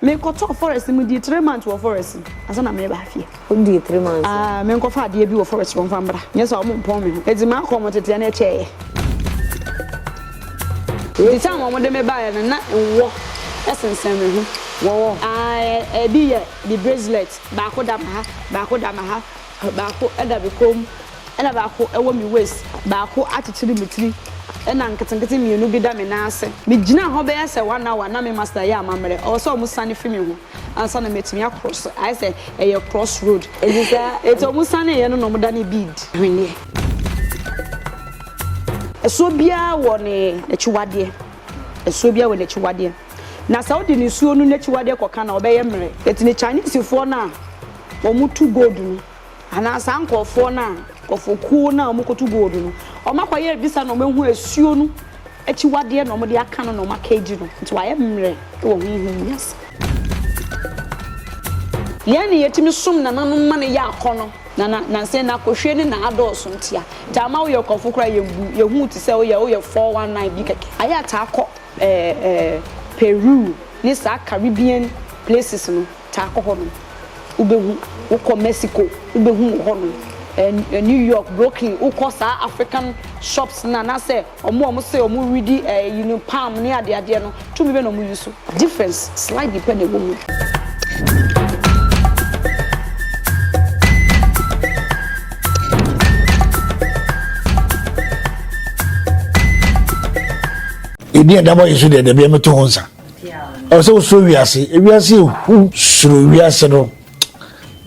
Me kɔ tɔɔ forest no me dii three months wɔ forest no ansa na me ba afie. Wo dii three months wɔ. Aah me nkɔ fa adeɛ bi wɔ forest wɔn fa mbra nyɛ saa wɔn mpɔn me ho eti maa kɔ wɔn teteɛ no ɛkyɛ yɛ. Nti time wɔn de me ba yɛ no na nwɔ ɛsensɛn me ho. Wɔwɔ. Aah ɛbi yɛ the bracelet baako da me ha baako da me ha. Baako da me kɔn mu, ɛnna baako wɔ me waist, baako akyekyere me tiri, ɛnna nketenkete mmienu bi da me nan ase. Migyinaa hɔ bɛyɛ sɛ one hour, na me muscle reyɛ amammerɛ. Ɛwɔ sɛ wɔsiane fi me ho ansa na matumi akrɔse. Ayɛ sɛ ɛyɛ cross road. Enti saa enti wɔsaneeɛ no na wɔdanee bead hweneɛ. Ɛsoɔ biara wɔ n'akyiwadeɛ. Ɛsoɔ biara wɔ n'akyiwadeɛ. Na sɛ wode nisuo no n'akyiwadeɛ kɔka no a, ɔbɛyɛ mmerɛ. Enti ne Chinesefoɔ no a. wɔtu gold no anaa saa nkorɔfoɔ no a nkorɔfokuo no a wɔkɔtu gold no wɔakɔyɛ visa na wɔahu asuo no akyiwadeɛ na wɔde aka no na wɔaka adi no nti wɔayɛ mmerɛ wɔ honhom wiase. Yɛn na yɛtumi som nananom ma no yɛ akɔnnɔ na na nansa na akɔhwie ne na adɔɔso nti a nti ama woyɛ ɔkɔmfo koraa yɛmbu yɛhu wo te sɛ woyɛ woyɛ 419 bi kɛkɛ. Ayɛ ataa kɔ ɛɛ ɛɛ Peru ne saa Caribbean places no Taa kɔ hɔ nom wobɛhu. Wo kɔ Mexico wobɛhu wɔ hɔ nom, ɛɛ New York, Brooklyn, wo kɔ saa African shops no anaa sɛ ɔmo a ɔmo se ɔmo redi ɛɛ ɛyi no palm ne adeɛ adeɛ no, tumi bɛn na ɔmo use? Difference slightly pɛ na ɛwɔ mu. Yɛdi adabɔ yi so deɛ, dabi a mɛto ho nsa. ɛwɔ sɛ wosuro wiase wiase ehu suro wiase no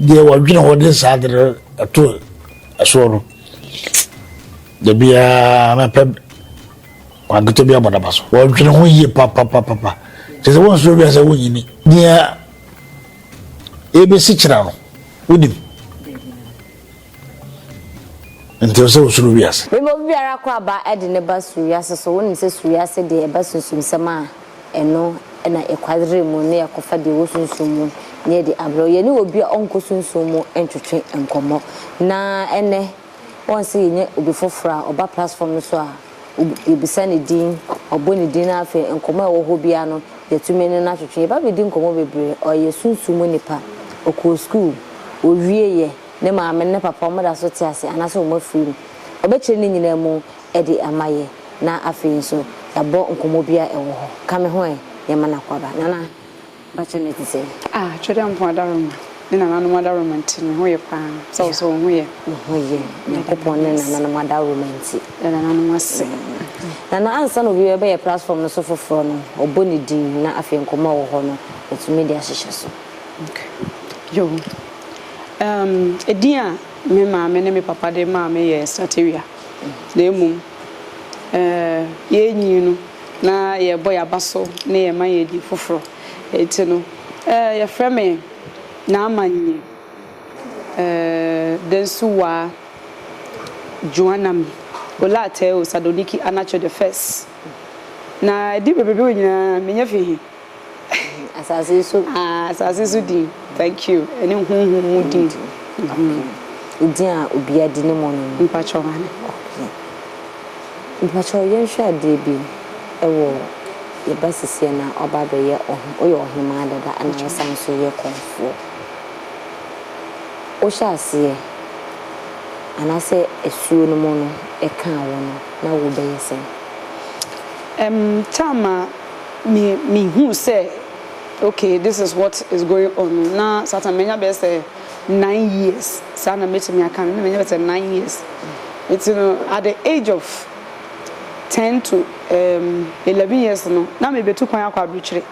deɛ wɔdwene hɔ de saa de no ɛto ɛsoɔ no da biara mɛpɛ wankete bi abɔdaba so wɔdwene ho yie papapapapa kyɛ sɛ wonsuro wiase wonyini deɛ ɛbɛsi kyerɛ no wonim Nti ɛsɛ sɛ wosuro wiase? Bere bɔ biara kɔ aba de ne ba soro wiase so. Wonim sɛ soro wiase deɛ ɛba sunsumsɛm a ɛno na ɛkwadare mu ne ɛkɔfa deɛ ɛwɔ sunsum mu ne ɛde abrɛ wo. Yɛne obi a ɔnkɔ sunsum mu ntwetwe nkɔmmɔ. Na ɛnnɛ, wɔn sɛ yɛnya obi foforɔ a ɔba platform no so a, yɛbisa ne din, wɔbɔ ne din na afei nkɔmmɔ a ɛwɔ hɔ biara no, yɛtumi ne no atwetwe. Yɛba bɛdi nkɔmmɔ bebree. Ɔyɛ sunsum mu nipa. Ɔkɔɔ sukuu. Ɔwieeɛ. Ne maame ne ne papa, wɔda so te ase anaasɛ wɔafiri mu. Ɔbɛkyerɛ ne nyinaa mu de ama yɛ, na afei nso yɛabɔ nkɔmmɔ bi a ɛwɔ hɔ. Ka me ho ɛ, yɛma no akwaaba. Nana, mpakyɛ na ɛte sɛn? Ah, Twedeampo adaworoma ne nananom adaworoma nti, me ho yɛ paa. Sɛ wo nso wo ho yɛ? Me ho yɛ, Nyankopɔn ne nananom adaworoma nti. Yɛda nananom ase. Nana, ansa na obi bɛyɛ platform no so foforɔ no, ɔbɔ ne din na afei nkɔmmɔ a ɛwɔ hɔ no, watumi de ahyehyɛ so. Okay. Yoo. Ɛɛm, edin a me maame ne me papa de maa me yɛ Satewia, na mmom, ɛɛ, yɛrenyin no, na yɛrebɔ yɛn aba so ne yɛn mma yɛn edin foforo. Enti no, ɛɛ, yɛfrɛ me Naamannyi, ɛɛ, Dansuwaa Juanami Olaatɛo Sadoniki Anacho the First. Na edin bebrebe wei nyinaa, menya fi he? Asase so. Ah, asase so din. Thank you. Ɛne honhom mu din. Okay. Din a obiara di ne mɔ no no. Mpakyɛw ma ne. Okay. Mpakyɛw yɛnhwɛ adeɛ bi ɛwɔ yɛba sesie na ɔba abɛyɛ ɔhe woyɛ ɔhemaa dada ɛna wosan nso yɛ kɔmfoɔ. Wohyɛ aseɛ anaasɛ asuo no mu no ɛkaa wo no na wobɛyɛ sɛn? Ɛm, time a. me me hu sɛ okay this is what is going on no na satan manya bɛyɛ sɛ nine years saa na mɛtumi aka no na manya bɛyɛ sɛ nine years nti no at the age of ten to um, eleven years no na mebɛtu kwan akɔ aburokyire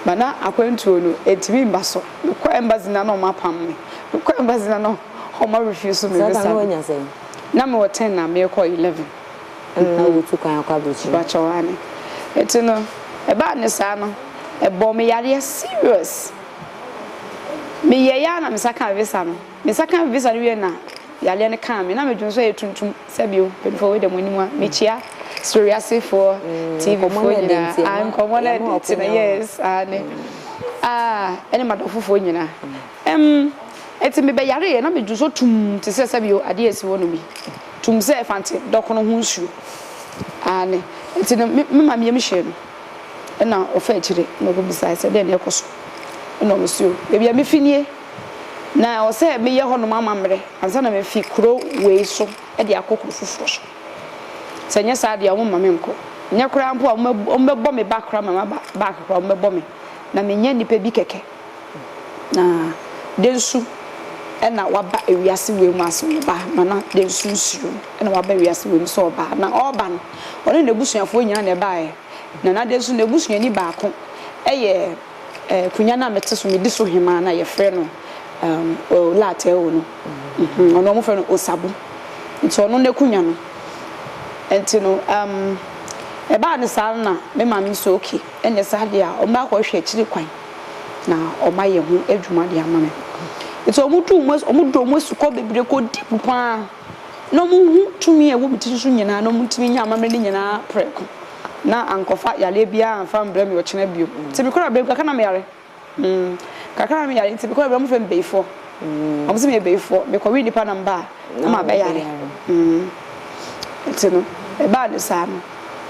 ba na akwantuo no ɛtumi mba so mekɔ embassy na na ɔma apam me mekɔ embassy na na ɔma refuse me visa na mewɔ ten na mekɔ eleven na wotu kwan kɔ abrokyire. Bakyɛw aane. Nti no ɛbaa ne saa no ɛbɔɔ me yareɛ serious. Me yɛɛ yɛ ara na me nsa kaa visa no. Me nsa kaa visa no wie na yareɛ no kaa me na me dwene so ɛyɛ tuntum sɛ bio mpanyinfoɔ wei deɛ mo anim a me kyia soro wiase foɔ TV foɔ nyinaa nkɔmɔ no ɛde nti no yes aane ah ɛne madɔfo foɔ nyinaa Ɛm, ɛte mebɛyareeɛ na medu so tumm te sɛ sɛbio adeɛ asi hɔ nom yi, tumm sɛ ɛfante dɔkono ho nsuo. Aane, ɛte no me me mameɛ mehyɛɛ no ɛna ɔfa akyire na ɔkɔbisaaɛ sɛ dɛn na ɛkɔ so ɛna ɔmo se o baabi a mefi nie na ɛwɔ sɛ meyɛ hɔ nom amammerɛ ansa na mafi kuro wei so de akɔ kuro foforɔ so sɛ nyɛ saa deɛ ɔmo mma me nkɔ nyɛ koraa mpo a ɔmo bɛbɔ me ba koraa ma maba back koraa ɔmo bɛbɔ me na menyɛ nipa bi kɛkɛ. Na dɛn su na waba wiase wei mu a sɛ ɔba a, Nana dɛn su nsuro na waba wiase wei mu sɛ ɔba a? Na ɔreba no, ɔne n'abusuafoɔ nyinaa na ɛbaeɛ. Nana dɛn su n'abusuani baako yɛ akonnwa no a mete so medi so hemaa no a wɔfrɛ no Olateo no. Ɔno wɔfrɛ no Osabu. Nti ɔno n'akonnwa no. Nti no, ɛbaa no saa no na me maame nso okay, ɛnneɛ saa deɛ a, ɔmmra hɔ hwɛ akyiri kwan. na wɔayɛ ho adwuma de ama me. Nti wɔn du wɔn as wɔn dɔ wɔn asukɔ bebree kɔ deep paa na wɔn hu tumi a ɛwɔ me tiri so nyinaa na wɔn tumi nya amammerɛ no nyinaa prɛko na ankɔfa yareɛ biara anfa mbrɛ me ɔkyena bio. Nti me kɔrɔ abɛm kakra na me yare mm kakra na me yare nti me kɔrɔ abɛm wɔn fɛ me bayifoɔ. Wɔn sɛ meyɛ bayifoɔ, mekɔwe nnipa na meba a, na mabɛyare. Nti no, ɛbaa no saa no,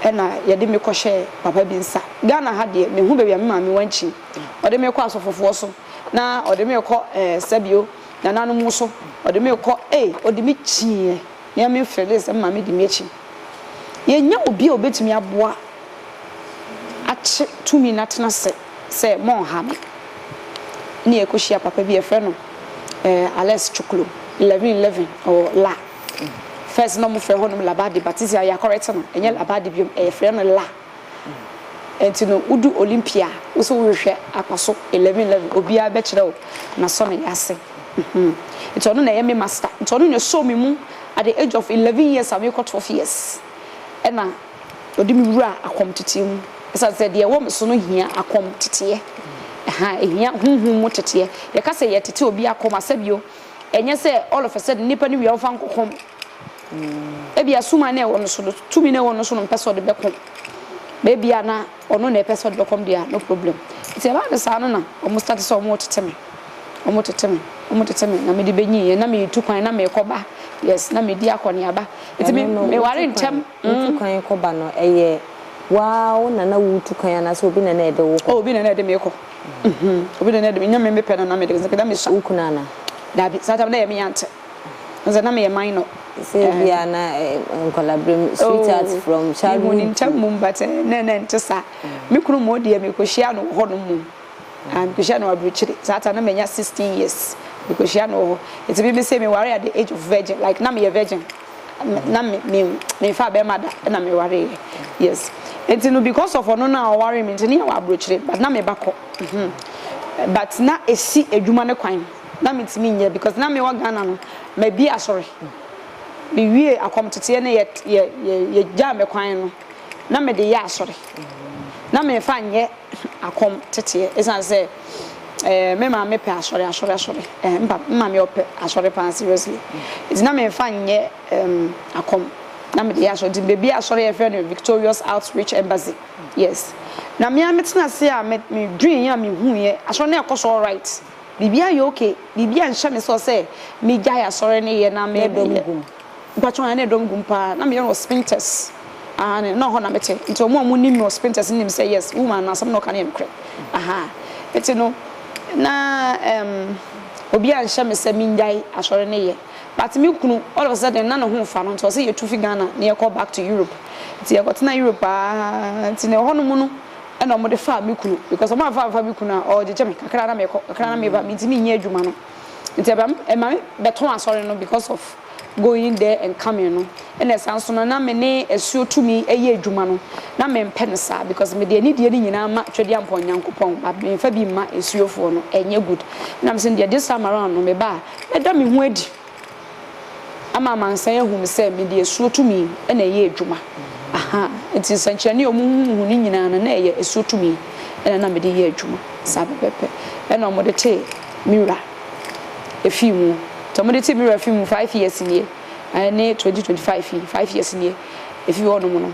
ɛna yɛde me kɔhyɛɛ papa bi nsa. Ghana ha deɛ, mehu baabi a me maame wankyin. Ɔde me kɔ asɔfofoɔ so, na ɔde me rekɔ ɛɛ sɛbio, nananom so, ɔde me rekɔ, ei, ɔde me kyiiɛ. Me ara mefeelee sɛ me maame di me akyi. Yɛnnya obi a ɔbɛtumi aboa akye tumi no atena ase. sɛ monnha me. Ɛnna yɛkɔhyia papa bi, yɛfrɛ no eh, Alex Chuklo, 1111 ɔwɔ La. First na wɔfrɛ hɔnom Labadi, but sisi a yɛakɔrɛte no, ɛnyɛ Labadi biom, eh, yɛfrɛ no La. Ɛnti no, wodu Olympia a, wo sɛ wohwehwɛ akwaso 1111, obiara bɛkyerɛ wo n'asɔneeɛ ase. Mhm. Nti ɔno na ɛyɛ me master. Nti ɔno na ɛsɔɔ me mu at the age of 11 years a merekɔ 12 years. Ɛnna. Ɔde me wura akɔmteteɛ mu. Ɛsiane sɛ deɛ ɛwɔ me so no hia akɔmteteɛ. Ɛha, ɛhia honhom mu teteɛ. Yɛka sɛ yɛtete obi akɔm a, sɛbio ɛnyɛ sɛ all of a sudden nipa no wie a ɔmfa nkɔkɔm. Mm. Ebia suman na ɛwɔ no so no, tumi na ɛwɔ no so no mpɛ sɛ ɔde bɛkɔm. Baabi a na ɔno na ɛpɛ sɛ ɔde bɛkɔm deɛ no problem. Nti ɛbaa no saa no na wɔn start sɛ wɔn retete me. Wɔn retete me, wɔn retete me na mede bɛnyiiɛ na metu kwan na merekɔba. Yes, na medi akɔneaba. Nti me, meware ntɛm. Wotu kwan kɔ ba no, ɛyɛ woaa wo na na wotu kwan anaasɛ obi na na ɛde wo kɔ? Oh, obi na na ɛde me kɔ. Mm-hmm. Obi na na ɛde me, nyɛ me mepɛ no na mede, na mesua. Wo kunu ana? Dabi, saa tam na ɛyɛ me yante. Nsɛ na meyɛ minor. Sɛ ebi a na nkɔlabrem, sweetheart oh, from childhood. Mehu ne ntam mum, but eh, na na ɛnte saa. Mm. Me kunu mmɔ deɛ mekɔhyia no hɔ no mmom. Mm. Ah, mekɔhyia no aburukyire. Saa tam na manya 16 years. Mekɔhyia no hɔ. Ɛti bi me se meware at the age of virgin, like na meyɛ virgin. na me me me fa bɛrima da na me ware yɛ yes nti no because of ɔno na ɔware me nti ne yɛ wɔ aburokyire but na me ba kɔ mhm but na esi adwuma ne kwan na me ntumi nyɛ because na me wɔ Ghana no ma bi asɔre me wie akɔmteteɛ ne yɛ yɛ yɛ yɛ gyaa me kwan no. na mede yɛ asɔre. Na memfa nyɛ akɔm teteɛ ɛsiane sɛ ɛɛ me maame pɛ asɔre asɔre asɔre ɛɛ mpa me maame ɔpɛ asɔre paa seriously nti na memfa nyɛ ɛɛm akɔm na mede yɛ asɔre nti beebi asɔre yɛ fɛ no Victorious Outreach Embassy yes na mea me tena ase a me me dwen yɛ a me hu yɛ asɔre na ɛkɔ so alright biribi ayɛ okay biribi anhyɛ me sɛ ɔsɛ me gya yɛ asɔre ne yɛ na me dɔm gum. Mpakyɛw ɛnna na ɛdɔm gu mu paa na meyɛ no wɔ spintex aane na hɔ na mete nti ɔmo a ɔmo nim me wɔ spintex no nim sɛ yes woman no asɛm na ɔka no yɛ nokorɛ ahaa nti no na ɛɛm obi anhyɛ me sɛ mennyae asɔre no yɛ but me kunu all of a sudden na ne ho nfa no nti ɔse yɛtu fi Ghana na yɛkɔ back to Europe nti yɛkɔ tena Europe aa nti na ɛhɔ nom no ɛnna ɔmo de faa me kunu because ɔmo amfa amfa me kunu a ɔɔgyegye me kakra na mekɔ kakra na meba mentumi nyɛ adwuma no. Ntsi eba me ema me bɛtɔn asɔr no because of going there and coming no. Nna esan so no na me ne esuo tumi yɛ edwuma no na memmpɛ no saa because mede anidie no nyinaa ma Twɛdiampɔn Nyankopɔn but memmfa bi mma esuofoɔ no, ɛnnyɛ good. Nna mese no deɛ this time around no meba a mɛda me ho adi. ama amansan ahu me sɛ mede asuo tumi na ɛyɛ adwuma. Aha, nti nsɛnkyerɛnne a wɔhuhuhu no nyinaa no, na ɛyɛ asuo tumi na na mede yɛ adwuma. Saa pɛpɛɛpɛ na wɔde tee me wura fii mu. Nti wɔde tee me wura fii mu five years nie, ɛne twenty twenty five yi, five years nie, ɛfii hɔnom no.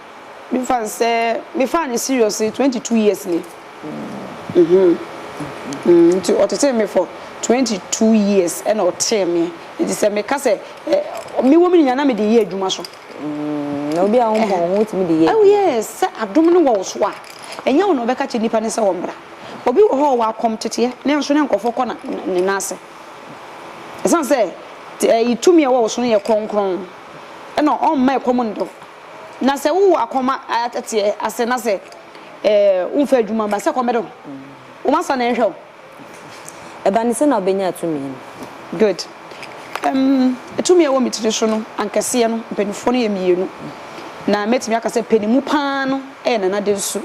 Me fa no sɛ me faa no serious ne twenty two years ni mm mm nti ɔtetee me for twenty two years ɛna ɔtee me nti sɛ me ka sɛ eh, me wɔ me nyinaa na me de yɛ adwuma so. Mm, na obi a wɔn pɔn wɔn tumi de yɛ adwuma. Oh yes, sɛ adom no wɔ wo so a, ɛnyɛ wɔn na ɔbɛka kyerɛ nipa ne sɛ wɔn bra. Obi wɔ hɔ a ɔwɔ akɔm teteɛ, ne nso ne nkurɔfoɔ kɔ na ne nan ase. Ɛsan sɛ ɛyi tumi a ɛwɔ wo so no yɛ kronkron, ɛna ɔmma ɛkɔm ndɔ. Na sɛ wowɔ akɔm a ateɛ ase na sɛ womfa adwuma ba sɛ kɔm bɛdɛ wo. Womasa na ɛnhwɛ wo. Ɛba ne sɛ na wobɛnya tumi no. Good. Um, tumi a ɛwɔ me tiri so no ankɛseɛ no, mpanimfoɔ no yɛ mmienu. Na mɛtumi aka sɛ panimu paa no yɛ Nana Densu.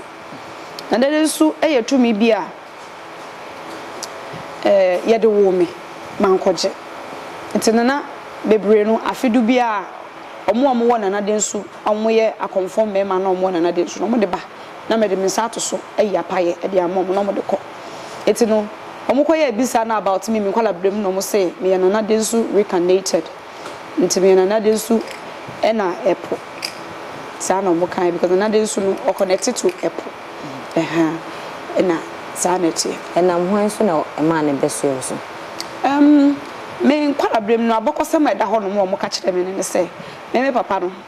Nana Densu yɛ tumi bi a. ɛɛ yɛde woo me ma nkɔgye. Nti Nana bebree no afe du biara ɔmo a ɔmo wɔ Nana den su a ɔmo yɛ akɔmfoɔ mmarima na ɔmo wɔ Nana den su no ɔmo de ba na me de me nsa ato so ayi apayɛ ɛde ama ɔmo na ɔmo de kɔ. Nti no ɔmo kɔ yɛɛ bisa no about me me nkɔla berɛ mu na ɔmo se meyɛ Nana den su recarnated. Nti me nanade nsu na ɛpo saa na ɔmo kae because nanade nsu no ɔkɔnɛte to ɛpo ɛha na saa na ɛteɛ. Ɛnam hwan so na ɛmaa ne bɛ soɛ wo so? Ɛmm me nkwaraberem no abɔkɔsɛm a ɛda hɔ nom a ɔmo ka kyerɛ me no ne sɛ me me papa no.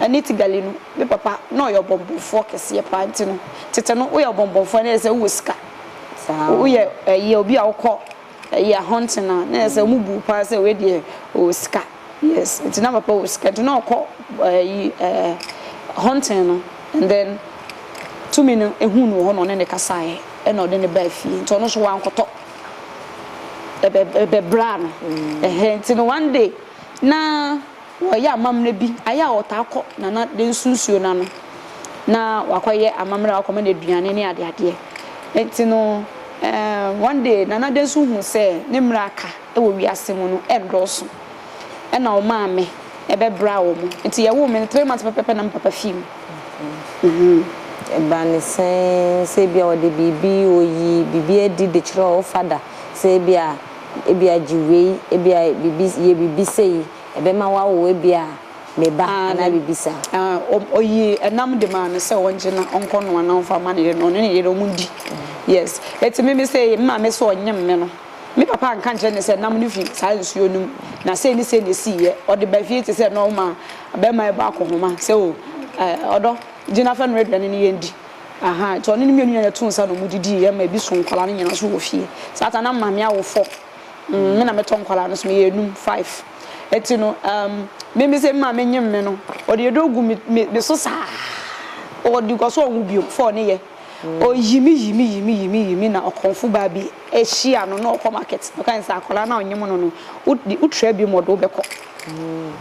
Ɛne Tigali no, me papa na ɔyɛ ɔbɔnbɔnfoɔ kɛseɛ paa nti no, tete no woyɛ ɔbɔnbɔnfoɔ a na ɛyɛ sɛ wowɔ sika. Woyɛ ɛyɛ obi a wokɔ ɛyɛ hunting a na ɛyɛ sɛ wɔn bu wo paa sɛ wei deɛ ɔwɔ sika. Yes, nti na papa wɔ sika nti na ɔkɔ ɛyi ɛɛ hunting no and then tumi no ɛhuu no wɔ hɔ na ɔne no kasaeɛ ɛna ɔde no baa fie nti ɔno nso wankɔtɔ ɛbɛ ɛbɛbraa no ɛhɛɛ nti no one day na Wɔyɛ amammerɛ bi a, ɛyɛ a wɔtaa kɔ Nana de nso nsuo no ano na wɔakɔyɛ amammerɛ a wɔakɔma no aduane ne adeadeɛ. Enti no, um one day Nana de nso huu sɛ ne mmerɛ a aka wɔ wiase mu no nnɔɔso. Ɛna ɔmaa me bɛbraa wɔn. Enti yɛwoo me no, three months pɛpɛɛpɛ na me papa fii mu. Uhum. Ɛbaa no sɛn? Sɛ ebia ɔde biribi, ɔyi biribi adi de kyerɛ wo fada sɛ ebia, ebia gye wei, ebia biribi, yɛ biribi sei. ɛbɛma wawo ebia ne ba anaa biribi saa. Ɔyii ɛnam de maa no sɛ ɔngye na ɔnkɔ noa na ɔmfa mma ne yere na ɔne ne yere ɔndi. Yes. Enti me me se me maame se ɔnyem me no, me papa anka ankyerɛ ne sɛ nam no fi saa nsuo no mu na sei ne sei na ɛsiiɛ. Ɔde ba fie te sɛ nɔɔma bɛrima rebɔ akɔhoma sɛ o ɔdɔ gye na fɛ noa aduane no yɛndi. Aha, nti ɔne ne mmienu nyinaa na ɛtoo nsa na wɔdidiiɛ ma ɛbi soo nkwadaa no nyinaa so wɔ fie. Saa ta na maame awo fɔ. mm, me na metɔ nkwadaa no so meyɛ enum five ɛti no um, meme sɛ mma menyem me no ɔde yɛdɔ gu me so saa ɔde nkɔ so ɔwo bio fɔ ne yɛ ɔyi me yi me yi me yi me yi me na ɔkɔmfo baa bi ahyia no na ɔkɔ market ɔka ne sɛ akwadaa no a ɔnyem no no wotrɛ bi mu ɔde wobɛkɔ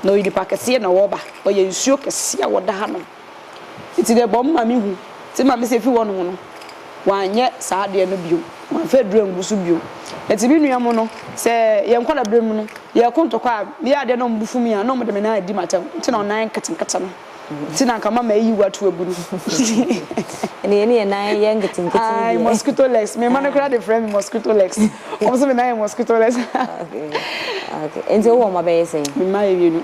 na ɔyɛ nipa kɛseɛ na ɔba ɔyɛ nsuo kɛseɛ a wɔda hanom Ntsi dɛ bɔ mma mehu, ntsi ma mese fi hɔnho no, wɔannyɛ saa adeɛ no bio, wɔammfa aduru anngu so bio. Ntsi me nua mu no, sɛ yɛ nkɔlaberɛ mu no, yɛɛko ntɔkwa a, meyɛ adeɛ a na ɔmo bo fu me a, na ɔmo de me nan adi m'atam, ntsi na ɔnan nketenkete no ntsi na anka mama eyi wo ato agu no. Ɛnna yɛne yɛn nan yɛ nketenkete no deɛ. Ae, mosquito legs. Me mma no koraa de frɛ me mosquito legs. Wɔn nso me nan yɛ mosquito legs. Okay, okay. Nti wowɔ mma bɛyɛ sɛn? Me mma yɛ mmienu.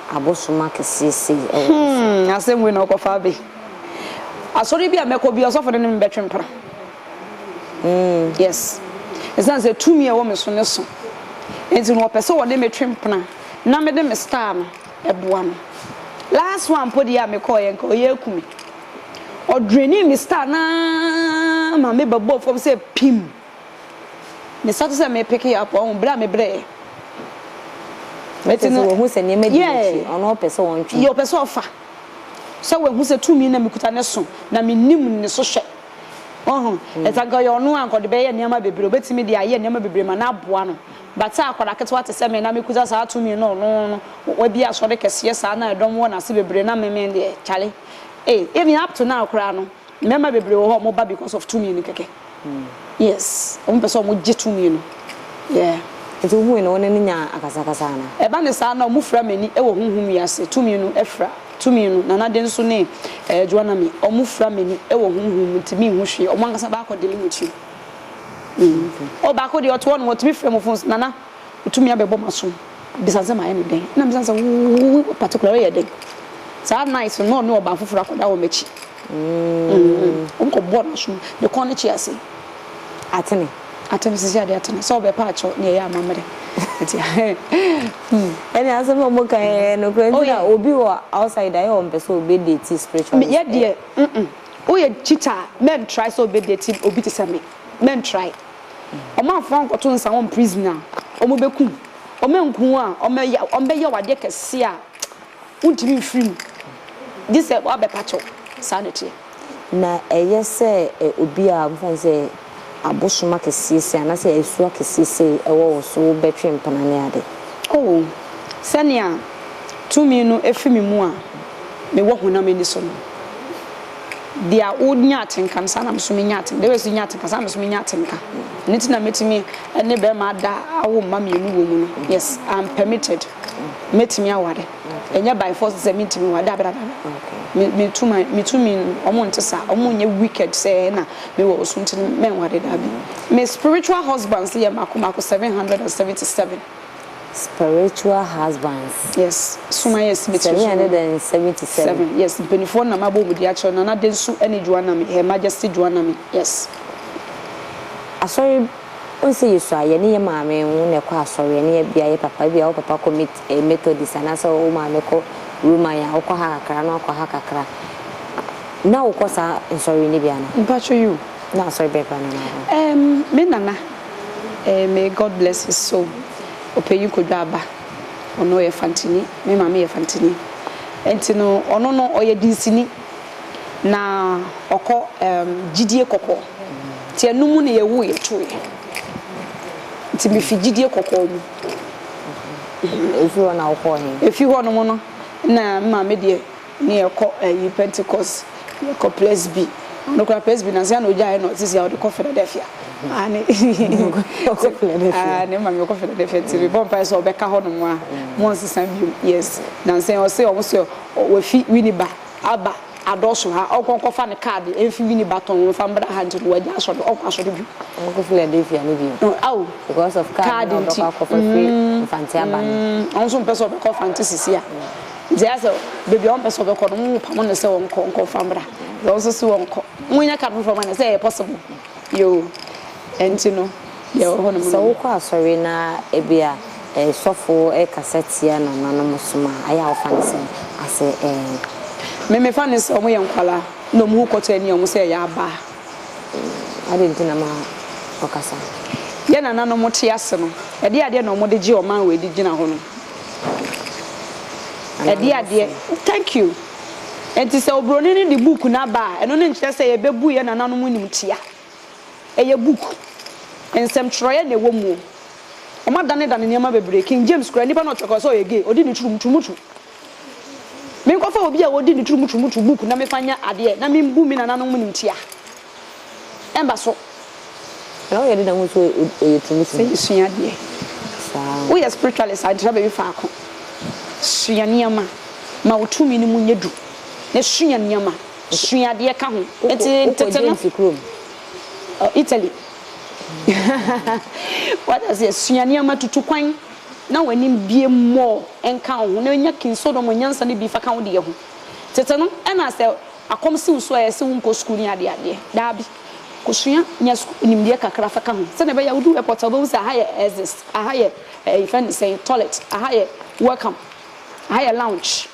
abosom akɛseɛ sei wɔ wo so. Hmm, asɛm wei na ɔkɔfa abe. Asɔre bi a mɛkɔ bi, ɔsɔfo no ne me bɛtwe mpena. Hmm. Yes. Ɛsiane sɛ tumi a ɛwɔ me so ne so. Nti no ɔpɛ sɛ ɔde me twe mpena na mede me star no ɛboa no. Last one mpo deɛ a mekɔɔ yɛ nka ɔyɛ aku me. Ɔdreni me star naa ma me ba bɔɔ fam sɛ pim. Me sa te sɛ me pick up ɔhu bere a me brɛ. Eti no. Sɛ wahu sɛ nneɛma di n'akyi a ɔno ɔpɛ sɛ ɔntwe. Yɛ ɔpɛ sɛ ɔfa. Sɛ wahu sɛ tumi na me kuta ne so na me nim ne so hwɛ. Ɔhu. Eti anka ɔyɛ ɔno a anka ɔde bɛyɛ nneɛma bebree obetumi de ayɛ nneɛma bebree ma no aboa no. But sɛ akwadaa ketewa te sɛ me na me kuta saa tumi no ɔno no wabie asɔre kɛseɛ saa na ɛdɔm wɔ n'ase bebree na me me deɛ charlie. Ei even up to now koraa no. Mmarima bebree wɔ hɔ a wɔba because of tumi no kɛkɛ. Yes, wɔpɛ sɛ wɔgye tumi no. Yeah. Nti wohui no, wo ne no nyaa akasakasa anaa? Ɛba no saa na wɔfira m'ani wɔ honhom wiase. Tumi no fira. Tumi no, Nana de nso ne eh, Joanna me, wɔfira m'ani wɔ honhom mu nti menhu hwee. Wɔn ankasa baako de ne ho kyiri. Mm. Okay. Oh, baako deɛ ɔte hɔ no, wɔtumi frɛ mo phones, Nana, wotumi abɛbɔ m'asom. Bisa sɛ mayɛ no dɛn. Na misa sɛ, wo particular, woyɛ dɛn? Saa night no, na ɔne ɔbaa foforɔ akɔda wɔ m'akyi. Obi kɔ bɔ no so ne kɔn no kye ase. Atene. Atene sisi ade atene. Sɛ ɔbɛ pa akyɛ ne ɛyɛ amammerɛ. Ɛti hmm. Ɛne asɛm a ɔmo ka yɛ no kura nti na obi wɔ outside ayɛ ɔmpɛ sɛ ɔbɛ date spiritual. Yɛ deɛ mm woyɛ cheater mɛn try sɛ ɔbɛ date obi te sɛ me mɛn try. Ɔmo amfa nkɔto nsa wɔn prison a ɔmo bɛ kum. Ɔmo anku a ɔmo bɛ yɛ wadeɛ kɛse a. Wontumi mfiri mu, gye sɛ woabɛpa kyɛw. Saa na ɛteɛ. Na ɛyɛ sɛ obi a wɔfrɛ no sɛ abosom akɛseɛ sei anaasɛ asuo akɛseɛ sei wɔ wo so, wobɛtwe mpena ne ade. O, sɛnea tumi no fi me mu a mewɔ honam ani so no, deɛ wonya atenka no, saa na me nso menya atenka, deɛ woyɛ sɛ wonya atenka, saa na me nso menya atenka. Ɛno nti na mɛtumi ne barima ada awo mma mmienu wɔ mu no. Yes, I'm permitted. Mɛtumi aware ɛnyɛ by force sɛ mentumi nware daabi daabi daabi me tumi me tumi wɔn nte saa wɔn nyɛ wicked sɛ na me wɔ osu nti mɛnware daabi me spiritual husbands yɛ mako mako seven hundred and seventy seven. Spiritual husbands. Yes suma yɛ si me tiri so. Seven hundred and seventy seven. Yes mpanyinfoɔ na mabɔ wɔn di akyerɛ Nana Densu ɛne Juanami Her Majesty Juanami yes. Asɔre. Wohu sɛ yɛsu a, yɛne yɛn maame ho na ɛkɔ asɔre, ɛne yɛn bia yɛn papa, ebia wo papa kɔ Met, eh, Methodist, anaasɛ wo maame kɔ Roman a, wokɔ ha kakra na wakɔ ha kakra. Ná wokɔ saa nsɔre no bi anaa? Mpacho you. Na asɔre bɛn koraa na ɔmaa wo? Ehm, me nana, eh, may God bless his soul, Ɔpanyin Kodwo Aba, ɔno ɔyɛ Fantini, me maame yɛ Fantini, ɛnti no ɔno no ɔyɛ dinsini, na ɔkɔ, ehm, gyidie kɔkɔɔ. Nti ɛno mu na yɛwoo yɛ tooɛ. Nti me fi gyidie kɔkɔɔ mu. Ɛfiri hɔ na wo kɔɔ he? Ɛfiri hɔ nom no na me maame deɛ ne yɛ kɔ ɛyi Pentecost, yɛ kɔ Presby. Ɔno koraa Presby nansa na ɔgyaeɛ na sisi a ɔde kɔ Philadelphia. Aane. Ɔkɔ Philadelphia. Aane me maame ɔkɔ Philadelphia nti me bɔ mpaeɛ sɛ ɔbɛka hɔ nom a, mo nsesa bio. Yes. Nansa yi ɔse ɔmo se wafi Winneba. Aba adɔɔso ha, ɔnkɔ nkɔfa ne card mfi Winnie Batong mfa mbra ha ntsi no ɔagya asɔr, ɔnkɔ asɔr bio. Ɔnkɔ Philadelphia no bio. Oh, aw. Because of card na ɔbɛkɔ akɔfa firi Mfantse aba no. Mm, ɔno so mmpɛ sɛ ɔbɛkɔ Mfantse sisi a. Ntsi ayɛ sɛ beebi a ɔmmpɛ sɛ ɔbɛkɔ no, hom pamo no sɛ ɔnkɔ, ɔnkɔ mfa mbra. Dza ɔno so se ɔnkɔ. Hom nyɛ card fofor ma no, sɛ ɛyɛ possible. Yoo, ɛnti no yɛwɔ hɔ nom. Sɛ wokɔ asɔre na ebia sɔfo kasa tia nananom som a, ayɛ a wofa no sɛn? A sɛ ɛɛ. Me, mefa no sɛ wɔyɛ nkwadaa na wɔn ho kɔtɔ ani wɔn sɛ ɛyɛ abaa. Adɛn nti na ma ɔkasa? Yɛn nananom te ase no, ɛdeɛn adeɛ na wɔde gye ɔman wei de gyina hɔ no? Ɛdeɛn adeɛ. Nananom som. Thank you. Enti sɛ oburoni no de book no aba a, ɛno no nkyerɛ sɛ yɛbɛbu yɛn nananom animtia. Ɛyɛ book. Nsɛmtwerɛeɛ na ɛwɔ mu. Wɔadanedane nneɛma bebree. King James koraa, nipa na ɔtwerɛ kɔɔ sɛ ɔyɛ gay. Ɔdi ne turumturumutu. Menkɔfa obi a ɔdi ne turumturumutu book na mefa nyɛ adeɛ na membu me nananom animtia. Ɛba so. Na woyɛ dɛn ahu sɛ ɔyɛ tumi sɛ. Sɛ yɛsua adeɛ. Saa. Woyɛ spiritualist a, ntra baabi faako. Sua nneɛma. Ma wo tumi no mu nyɛ duru. Na sua nneɛma. Sua adeɛ ka ho. Nti tete no. Wokɔ James kurom. Italy. Wate aseɛ? Sua nneɛma, tutu kwan, na w'anim bue more nka wo ho, na nya King Solomon nyansa no bi fa ka wo deɛ ho. Tete no, ɛna sɛ Akɔm si wo so a ɛsɛ sɛ wonkɔ sukuu ne adeadeɛ? Daabi. Kɔsua, nya sukuu nimdeɛ kakra fa ka ho sɛdeɛ ɛbɛyɛ a wodu airport a wobɛhu sɛ aha yɛ exits, aha yɛ ɛɛ yɛfrɛ no sɛn, toilet, aha yɛ welcome, aha yɛ lounge.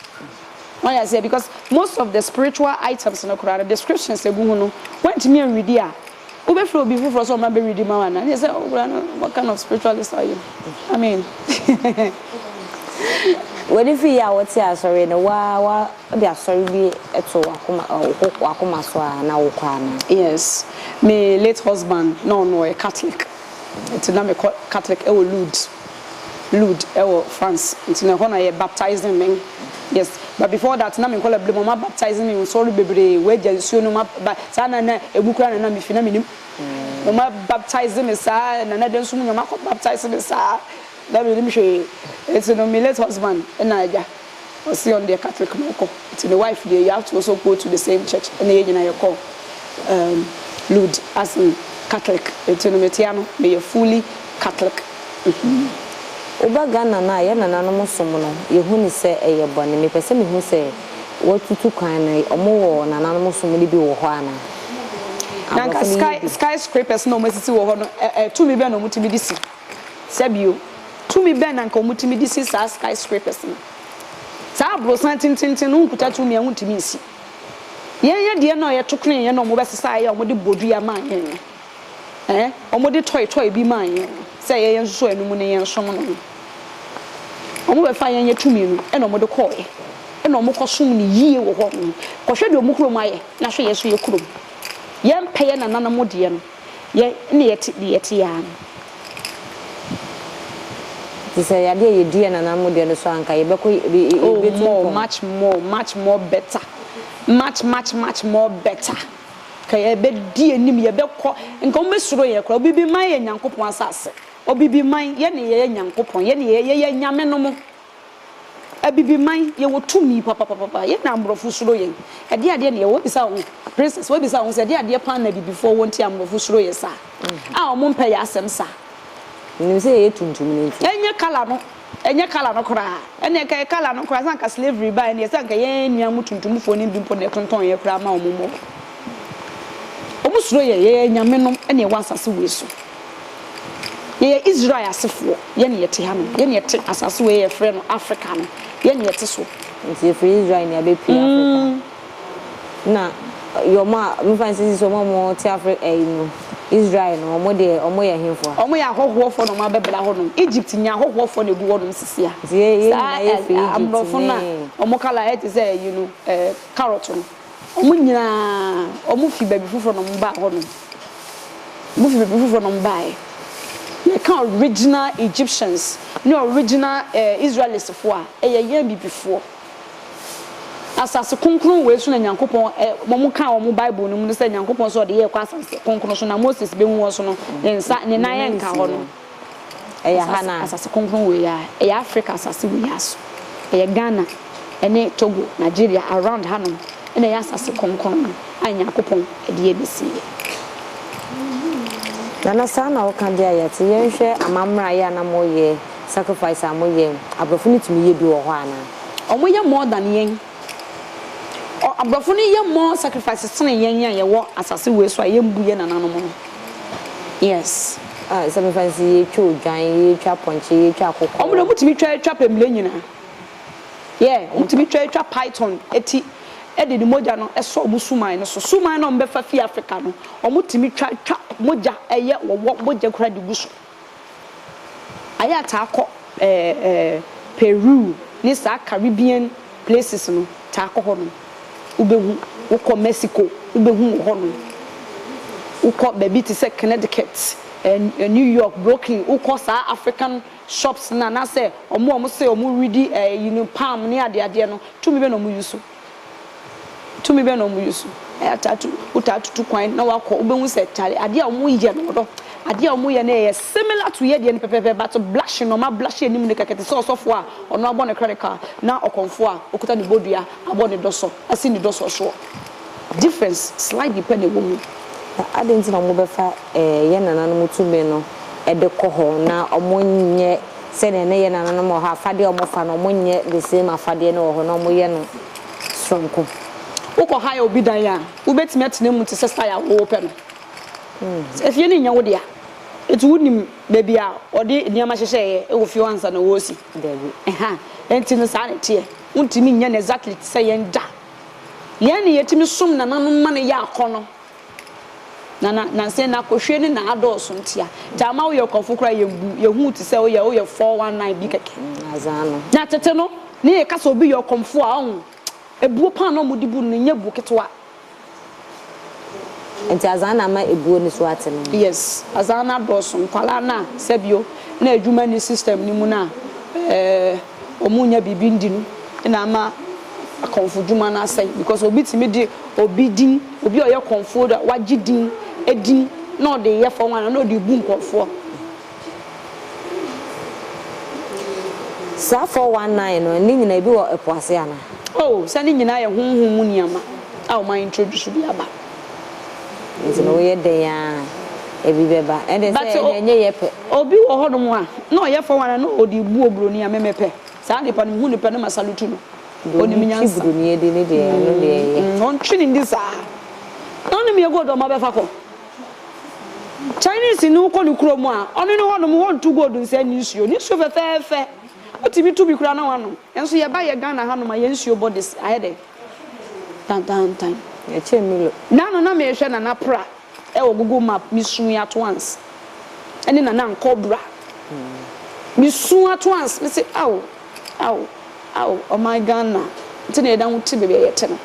Wate aseɛ? Because most of the spiritual items no koraa no, descriptions a ɛgu ho no, woantumi anridi a, Wo bɛ frɛ obi foforɔ sɛ ɔma bɛ readi ma wo anaa? Neɛ sɛ wo koraa no what kind of spiritualist are you? I mean W'ani fi yɛ a wo te asɔre no wo ara wo de asɔre bi to w'akoma wo w'akoma so a na wo kɔ anaa? Yes, me late husband na ɔno ɔyɛ Catholic Ntsi na mekɔ Catholic wɔ Lourdes, Lourdes wɔ France. Ntsi na hɔ na yɛ baptising me. Yes, but before that na me nkɔla ber mu wɔma baptise me nsɔr beberee, wɔagya nsuo no ma ba saa na na emu koraa na na mifi na minnim. Wɔma baptise me saa na na dɛn so mu na wɔakɔ baptise me saa na minnim hwee. Ntsi no me late husband na agya Ɔse ɔno deɛ Catholic na ɔkɔ nti ne wife deɛ you have to also go to the same church ɛna yɛn nyinaa yɛkɔ um, Lud as in Catholic nti no metea no meyɛ fully Catholic mm-hmm. Woba Ghana no a yɛn nananom som no yɛhu no sɛ ɛyɛ bɔne mepɛ sɛ mehu sɛ woatutu kwan no ɔmo wɔ nananom som no bi wɔ hɔ anaa? Nanka sky sky scrapers na ɔmo asisi wɔ hɔ no ɛ ɛ tumi bɛn na ɔmo tumi de si? Sɛ bio, tumi bɛn na anka wɔtumi de si saa skyscrapers no? Saa aborosan atententen no nkuta tumi a wontumi nsi. Yɛn yɛ deɛ na yɛto kren yɛn na wɔbɛsesa yɛn a wɔde bɔ dua maa yɛn no, ɛɛ, wɔde toy toy bi maa yɛn no, sɛ ɛyɛ yɛn nso so a ɛno mu ne yɛn som no no. Wɔbɛfaa yɛn yɛ tumi no ɛna wɔde kɔɔɛ, ɛna wɔkɔsom no yie wɔ hɔ nom. Kɔhwɛ deɛ wɔn kurom ayɛ na hwɛ yɛn nso yɛ kurom. Yɛmpɛ yɛn nananom deɛ no. Yɛn na yɛte deɛ yɛte yi ara no. Nti sɛ yɛade a yɛdi yɛn nananom deɛ no so a, anka yɛbɛkɔ Oh, yɛbɛtu more, mpɔn. much more, much more better, much, much, much more better. Nka yɛbɛdi anim, yɛbɛkɔ, nka wɔbɛsuro yɛn koraa. Obibiman yɛ Nyankopɔn asase. Obibiman, yɛn na yɛyɛ Nyankopɔn, yɛn na yɛyɛ, yɛyɛ anyame no mo. Abibiman, yɛwɔ tumi papapapa. Yɛn na aborɔfo suro yɛn. Ɛdeɛn adeɛ na yɛwɔ? Wobisa wo ho, Princess, wobisa wo ho sɛ, ɛdeɛn adeɛ paa na abibifoɔ wɔ nti a aborɔfo suro yɛn saa, a wɔmpɛ yɛn asɛm saa? Menim sɛ yɛyɛ tuntum no nti. Ɛnyɛ colour no, ɛnyɛ colour no koraa. Ɛnneɛ anka ɛyɛ colour no koraa, sɛ anka slavery baeɛ no, sɛ anka yɛn nuanom tuntumfoɔ no bi mpo na ɛtontɔn yɛn koraa ma wɔmmɔ yɛn. Wɔsuro yɛn, yɛyɛ anyamenom na yɛwɔ asase wei so. Yɛyɛ Israel asefoɔ, yɛn na yɛte hanom, yɛn na yɛte asase wei a yɛfrɛ no Afrika no, yɛn na yɛte so. Nti yɛfiri Israel na yɛabɛpue Afrika. Ɛna wɔn a, memfa nsi sisi wɔn a wɔte Afri ɛyi no, Israel no, wɔn deɛ, wɔyɛ hefoɔ? Wɔyɛ ahɔhoɔfoɔ na wɔabɛbra hɔnom. Egypt nyɛ ahɔhoɔfoɔ na ɛgu hɔnom sisi a. Nti yɛn nyinaa yɛfiri Egypt ne. Saa aborɔfo no a wɔn colour ayɛ te sɛ ɛyi no, ɛɛ carrot no. Wɔn nyinaa, wɔfi baabi foforɔ na wɔbaa hɔnom. Wɔfi baabi foforɔ na wɔbaeɛ. Yɛka original Egyptians ne original eh, Israelistfoɔ a, ɛyɛ yɛn Abibifoɔ. Asase kronkron wei so na Nyankopɔn, eh, wɔn kaa wɔn Bible no mu no sɛ Nyankopɔn sɛ ɔde yɛkɔ asase kronkron so na Moses bɛhu wɔn so no, ne nsa, ne nan nka hɔ no. Ɛyɛ ha no a. Asase kronkron wei a, ɛyɛ Africa asase wei ara so. Ɛyɛ Ghana ne Togo, Nigeria, around hanom na ɛyɛ asase kronkron no a Nyankopɔn de abɛsi yɛ. Nana saa na wo ka deɛ yɛte yɛn hwɛ amamerɛ ayɛ a na mo yɛ sacrifice a mo yɛ abrɔfo no tumi yɛ bi wɔ hɔ anaa. Ɔmo yɛ more than yɛn. Ɔ abrɔfo no yɛ more sacrifices sene yɛn a yɛwɔ asase wei so a yɛn bu yɛn nananom no yes. Ah sacrifices yi yɛ twa odwan yɛ twa pɔnkye yɛ twa akokɔ. Ɔmo deɛ ɔmo tumi twa twa pɛmire nyinaa yeah ɔmo tumi twa twa python ti ɛde ne mogya no ɛsɔ ɔmo suman no so suman na ɔmo bɛfa fii Africa no ɔmo tumi twa twa mogya ɛyɛ wɔwɔ mogya koraa de gu so. Ayɛ ataa kɔ ɛɛ Peru ne saa Caribbean places no taa kɔ hɔ nom wo bɛ hu wo kɔ Mexico wo bɛ hu wɔ hɔ nom wo kɔ baabi te sɛ Connecticut ɛɛ New York Brooklyn wo kɔ saa African shops no anaa sɛ ɔmo a ɔmo se ɔmo redi ɛɛ you know palm ne adeadeɛ no tumi bɛ na ɔmo use. Tumi bɛn na wɔuse? Ɛtaa tu, wotaa tutu kwan na wakɔ, wobɛhu sɛ tare, adeɛ a wɔyɛ no, wɔdɔ adeɛ a wɔyɛ no ɛyɛ similar to yɛdeɛ no pɛpɛpɛ but blushing na wɔn a blush anim no kɛkɛ te sɛ ɔsɔfoɔ a ɔno abɔ ne clerical na ɔkɔmfoɔ a ɔkuta ne bodua abɔ ne dɔ so asi ne dɔ soɔ soɔ. Difference slightly pɛ na ɛwɔ mu. Na adɛn nti na wɔbɛfa yɛn nananom tumi no de kɔ hɔ na wɔnyɛ Sɛdeɛ ne yɛ nananom wɔ hɔ afadeɛ a wɔfa no wɔn nyɛ the same afadeɛ no wɔ hɔ na wɔyɛ no soronko. Wo kɔ hire obi dan a wo bɛtumi atena mu te sɛ style a wo wo pɛ no. Sɛ efie no nyɛ wo dea nti wo nim baabi a wɔde nneɛma hyehyɛ yɛ wɔ fie hɔ ansa na wɔ si. Dabi. Ɛha nti no saa na ɛteɛ wo ntumi nyɛ no exactly te sɛ yɛn da. Yɛn na yɛtumi som nananom ma no yɛ akɔnɔ. Na na nanse na kohwie ne na adɔɔso ntsi a dza ama woyɛ ɔkɔmfo koraa yɛ mbuw, yɛ hu tse sɛ woyɛ woyɛ four one nine bi kɛkɛ. Na tsetse no, nna yɛka sɛ obi yɛ ɔkɔmfo a, ɔho, ebuo paa na wɔdze bu no, no nnyɛ bu ketsewa. Ntsi adze a nna ama ebuo no so atse no nye. Yes, adze a nna adɔɔso, nkwalaa no a, sɛ bio, nna edwuma nnyi system no mu no a, eh. Wɔnnya biribi ndi no na ama akɔmfodwuma no asɛe because obi tumi de obi din, obi a ɔyɛ kɔmfoɔ do a wagye din edin na ɔde yɛ four one na ɔde rebu nkorɔfoɔ. Saa four one nine no ne nyinaa ebi wɔ ɛpo ase anaa? Oh, sɛ ne nyinaa yɛ honhom mu nneɛma a wɔn a introduce de aba. Nti no woyɛ dɛn aa ebi bɛba ɛnde sɛ ɛnde ɛnyɛ yɛ pɛ. But obi wɔ hɔ nom a na ɔyɛ fɔɔ wan na ɔde bu obroni a me me pɛ saa nipa no me hu no pɛ na ma salutu no ɔnim nyansa. Deɛ ɔde broni adi ne deɛ ɔno deɛ ɛyɛ. Ɔntwe ne ndi saa na ɔne me ɛgold ɔma bɛfa kɔ Chinese no wokɔ ne kuro mu a ɔne no hɔ nom hɔ ntu gold nsɛ ne nsuo ne nsuo fɛfɛɛfɛ wotumi tu bi koraa na wanom nso yɛba yɛ Ghana ha nom a yɛn nsuo bɔ de ayɛ dɛn. tantaantan. Yɛkyɛɛ Milo. Da no na merehwɛ Nana Pra wɔ Google Map, mesuu Atoans ne Nana Nkɔbra. Mesuu Atoans, mese ao, ao, ao, ɔman Ghana nti na yɛda ho te baabi a yɛte no.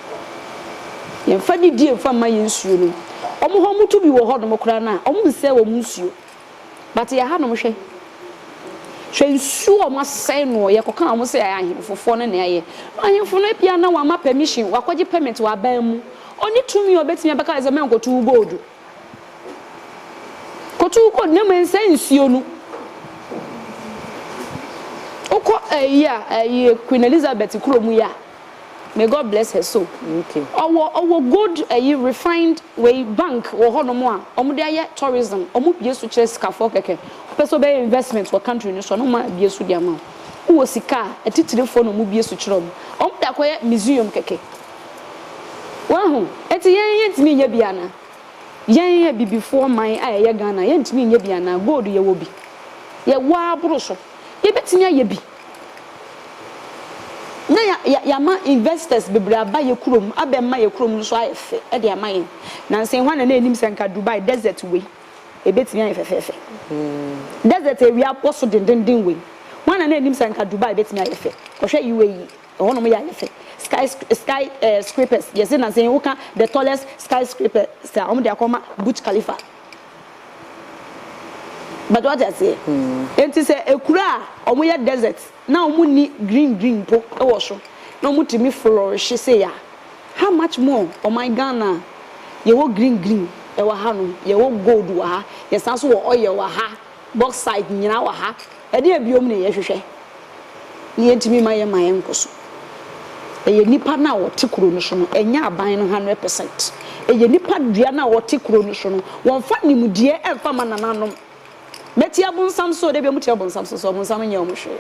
Yɛmfa didie mfa mma yɛn nsuo nom. Wɔn hɔ wɔto bi wɔ hɔnom koraa no a, wɔnsɛe wɔn nsuo. But yɛ hanom hwɛ. Hwɛ nsuo ɔmo asɛe noɔ yɛ kɔka ɔmo sɛ ahenfofoɔ no na ɛyɛ. Ahenfo no ebia na wama permission wakɔgye permit wɔ aban mu. Ɔnni tumi a ɔbɛtumi abɛka no sɛ mɛnkɔto wo gold. Kɔto wo gold na mmom nsɛe nsuo no. Wokɔ ɛyi a ɛyi Queen Elizabeth kuro mu yi a. May God bless her soul. Ɔwɔ ɔwɔ gold ɛyi refined wei bank wɔ hɔ nom a ɔmo de ayɛ tourism ɔmo bue so kyerɛ sikafoɔ kɛkɛ wopɛ sɛ ɔbɛyɛ investment wɔ country no so a na ɔmo abue so de ama wo wowɔ sika a atitirifoɔ na ɔmo bue so kyerɛ ɔmo ɔmo de akɔyɛ museum kɛkɛ wahu ɛti yɛn yɛn ntumi nyɛ bi ana yɛn yɛ bibifoɔ man a ɛyɛ Ghana yɛn ntumi nyɛ bi ana gold yɛwɔ bi yɛwɔ aboro so yɛbɛtumi ayɛ bi. na ya ya yɛama investors bebree aba yɛ kurom abɛma yɛ kurom no so ayɛ fɛ de ama yɛn. Nansa yi hwan na na ɛnim sɛ nka Dubai desert wei ɛbɛtumi ayɛ fɛfɛɛfɛ? Desert a awia bɔ so dendenden wei, hwan na na ɛnim sɛ nka Dubai bɛtumi ayɛ fɛ? Kɔhwɛ UAE, ɛhɔnom yɛ ayɛ fɛ. Sky sky eh scrapers, yɛse nansa yi woka the tallest sky scrapers a wɔde akɔma Burj Khalifa, But wate aseɛ? Enti sɛ ekuro a wɔyɛ desert na wɔnni green green mpo wɔ so na wɔtumi flourishye sei a, how much more ɔman Ghana a yɛwɔ green green wɔ hanom, yɛwɔ gold wɔ ha, yɛsan nso wɔ oil wɔ ha. Bauxite nyinaa wɔ ha. Ɛdeɛn biom na yɛhwehwɛ? Nea enti mema yɛn ma yɛnkɔ so. Ɛyɛ nnipa no a wɔte kuro no so no, ɛnyɛ aban no hundred percent. Ɛyɛ nnipa dua no a wɔte kuro no so no. Wɔnfa nimdeɛ ɛnfa mma nananom. Mɛte abonsam so o, dabi wɔte abonsam so so, abonsam nyɛ wɔn hwee.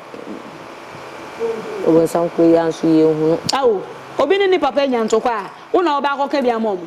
Abonsam kuro yi ara nso yɛnhunu. Ao, obi ne ne papa anya ntɔkwa a, wo na wobɛ akɔka bi ama wɔn?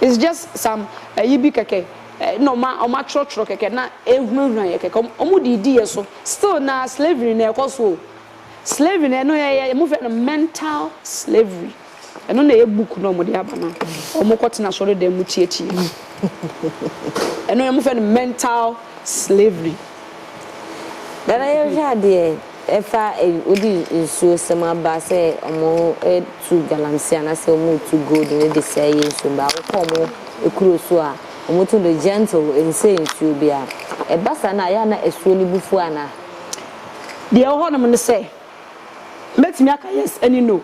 It's just some ayi bi kɛkɛ na ɔmo ɔmo atwerɛtwerɛ kɛkɛ na ehunahuna yɛ kɛkɛ ɔmo de di yɛ so still na slavery na ɛkɔ so o slavery na ɛno yɛ yɛ ɔmo fɛ no mental slavery ɛno na ɛyɛ book na ɔmo de aba na ɔmo kɔ tena sɔre dɛm mu tie tie ɛno yɛ ɔmo fɛ no mental slavery. Nana yɛnhwɛ adeɛ Fa wode nsuo sɛm aba sɛ wɔretu galamsey anaasɛ wɔretu gold no de sɛe yɛn nsuo mma. Wokɔ wɔn kuro so a, wɔtu no gentle, ɛnsɛe nsuo biara. Ɛba saa no a, ɛyɛ a na asuo no bu fu anaa? Deɛ ɛwɔ hɔnom ne sɛ, mɛtumi aka yes ne no.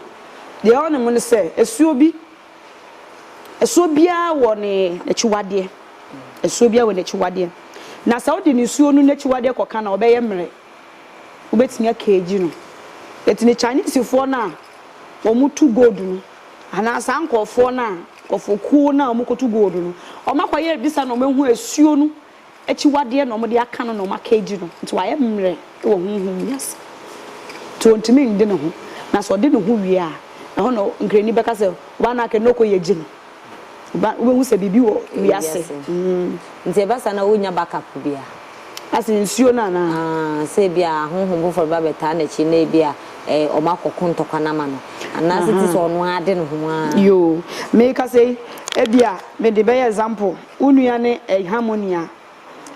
Deɛ ɛwɔ hɔnom ne sɛ, asuo bi, asuo biara wɔ ne n'akyiwadeɛ. Asuo biara wɔ n'akyiwadeɛ. Na sɛ wode nsuo no n'akyiwadeɛ kɔka no a, ɔbɛyɛ mmerɛ. wobɛtumi akeegi no. Yɛte ne Chinesefoɔ no a wɔtu gold no anaa saa nkorɔfoɔ no a nkorɔfokuo no a wɔkɔtu gold no wɔakɔyɛ bisa na wɔahu asuo no akyiwadeɛ na wɔde aka no na wɔakeegi no nti wayɛ mmerɛ wɔ honhom wiase nti ɔntumi nde ne ho na sɛ ɔde ne ho wie a ɛhɔ na nkrani bɛka sɛ ɔbaa no aka no na ɔkɔyɛ gyi no. Ba wobɛhu sɛ biribi wɔ wiase. Nti ɛba saa na wonnya back up bi a. Asɛ nsuo no anaa? Aah sɛ ebi a honhom foforɔ bɛba bɛtaa n'akyi na ebi a eh ɔmo akɔ ko ntɔkwa no ama no. Anaa sɛ tisɛ ɔno ara de ne ho ara. Yoo meka sɛ yi ebi a mede bɛyɛ example wo nua ne eh Harmony a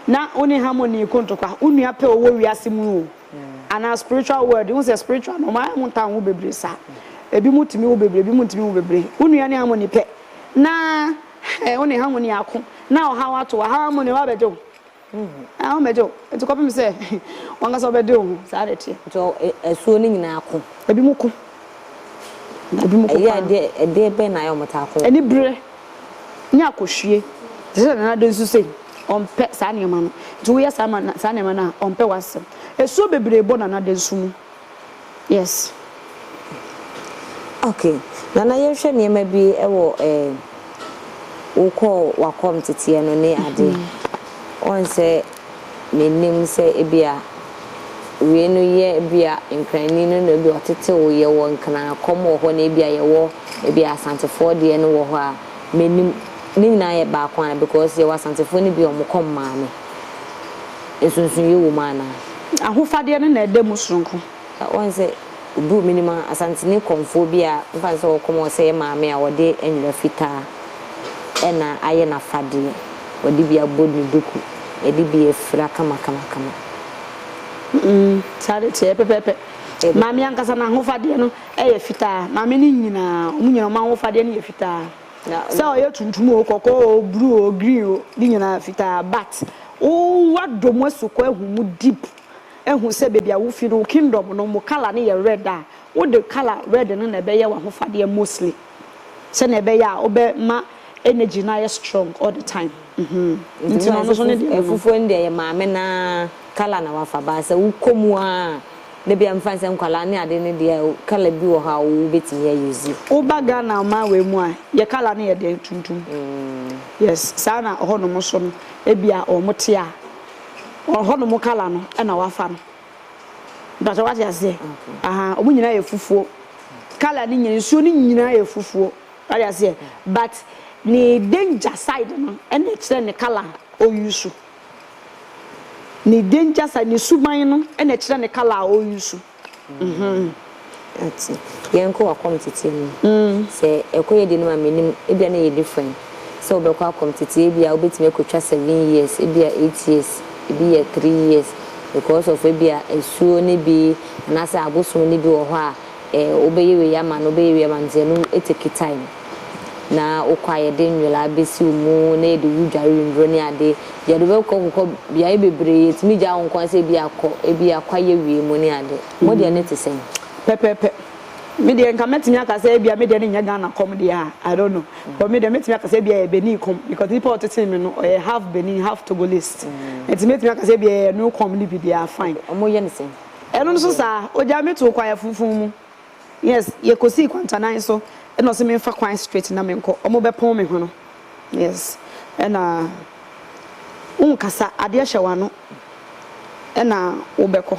na wo ne Harmony ko ntɔkwa wo nua pɛ ɔwɔ wiase mu oo. anaa spiritual world wohu sɛ spiritual no ɔma ɛho ntaa ho bebree saa ebi mu tumi wo bebree ebi mu ntumi wo bebree wo nua ne harmony pɛ na ɛɛ wo ne harmony ako na ɔhaw ato wa harmony wa bɛgye wo ɛɛ ho bɛgye wo eti kɔpem sɛ wɔn kasa ɔbɛde wo ho saa de teɛ. nti ɛsuo no nyinaa ko. ebi mu ko. ebi mo kɔ paa. Ɛyɛ deɛ ɛdeɛ bɛn na ayɛ wɔn taa kɔ. Ɛni bere ne akɔhwie te sɛ nana de nso sei ɔmpɛ saa nneɛma no nti wo yɛ saa ma saa nneɛma no a ɔmpɛ w'asɛm esuo bebree bɔ nana de nso mu yes. Okay nana yɛn hwɛ nneɛma bi ɛwɔ ɛɛ wokɔ wakɔm teteɛ no ne adeɛ wɔn sɛ. Menim sɛ ebia wei no yɛ ebia Nkranni no na ebia ɔtetew, yɛwɔ Nkran-Akɔm wɔ hɔ na ebia yɛwɔ ebia Asantefoɔ deɛ no wɔ hɔ a, menim. Ne nyinaa yɛ baako anaa because yɛwɔ Asantefoɔ no bi a wɔkɔ mmaame. Nsonsonoeɛ wɔ mu anaa? Ahofadeɛ no na ɛda mu sononko. Ka wɔn sɛ, Oduu me nim ara, Asantene kɔmfoɔ bi a mfa no sɛ ɔwɔ kɔm a ɔsɛeɛ maame a ɔde nwera fitaa na ayɛ n'afadeɛ, ɔde bi abɔ ne duku, ɛde bi afira kamakamakama. Mm-mm, saa de teɛ pɛpɛɛpɛ. Maame ankasa n'ahofadeɛ no yɛ fitaa, maame no nyinaa, wɔn nyinaa wɔn ahofadeɛ no yɛ fitaa. Sɛ ɔyɛ tuntum o, kɔkɔɔ o, bruu o, green o, ne nyinaa fitaa, but wo wadɔ mu asukɔ ahu mu deep. Ehu sɛ baabi a wo fi no wo kingdom no mo colour no yɛ red a, wo de colour red no na ɛbɛyɛ w'ahofadeɛ mostly sɛdeɛ ɛbɛyɛ a wo bɛ ma energy no ayɛ strong all the time mm nti no ɔno nso ne deɛ no no. Fufuo no deɛ yɛ maame no ara colour na wafa baa sɛ wo kɔ mu a da biara mefa no sɛ nkwadaa ne adeɛ no deɛ colour bi wɔ hɔ a wo bɛtumi a use. Wo ba Ghana ɔman wei mu a yɛ colour no yɛ dɛn tuntum mm yes saa na ɛhɔ nom nso no ɛbi a wɔn te a. ɔhɔ nom kala no na wafa no mpɛsɛ wate aseɛ aha ɔmo nyinaa yɛ fufuo kala no nyinaa nsuo no nyinaa yɛ fufuo wate aseɛ but ne danger side no ɛna ɛkyerɛ ne kala a ɔyusu ne danger side ne suban no ɛna ɛkyerɛ ne kala a ɔyusu Ate. Yɛnkɔ w'akɔm teteɛ no. Sɛ ɛkɔ yɛ deɛ no ma menim, ebia na ɛyɛ different. Sɛ wobɛkɔ akɔm teteɛ, ebia wobɛtumi akɔtwa seven years, ebia eight years, ebi yɛ three years because of ebia asuo no bi anaasɛ abosom no bi wɔ hɔ a wobɛyɛ wei ama no, wobɛyɛ wei ama no nti ɛno take time. na wokɔ a yɛde nwera besi wo mu na yɛde wo dware nnuro ne ade yɛde wo bɛkɔ kɔkɔ beaeɛ bebree yɛtumi gyaa wo nkoa sɛ ebi akɔ ebi akwa yɛ wie mu ne ade mo deɛ ne te sɛn. Pɛpɛɛpɛ. Me deɛ nka mɛtumi aka sɛ ebia me deɛ no nyɛ Ghana kɔm deɛ a, I don't know. But me deɛ mɛtumi aka sɛ ebia ɛyɛ Benin kɔm because nipa a ɔtetee me no ɔyɛ half Benin, half Togolese. Nti mɛtumi aka sɛ ebia ɛyɛ ɛno kɔm no bi deɛ a, fine. Okay, wɔyɛ no sɛn? Ɛno nso saa, ogyaa me too kwaeɛ funfun mu. Yes yɛkɔsii kwantanan so ɛna ɔse menfa kwan straight na menkɔ ɔmo bɛpɔn me hweno yes ɛna wonkasa adeɛ hyɛ wano ɛna wobɛkɔ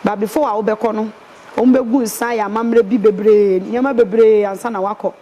but before a wobɛkɔ no ɔmo bɛgu nsa ayɛ amammerɛ bi bebree nneɛma bebree ansa na wakɔ.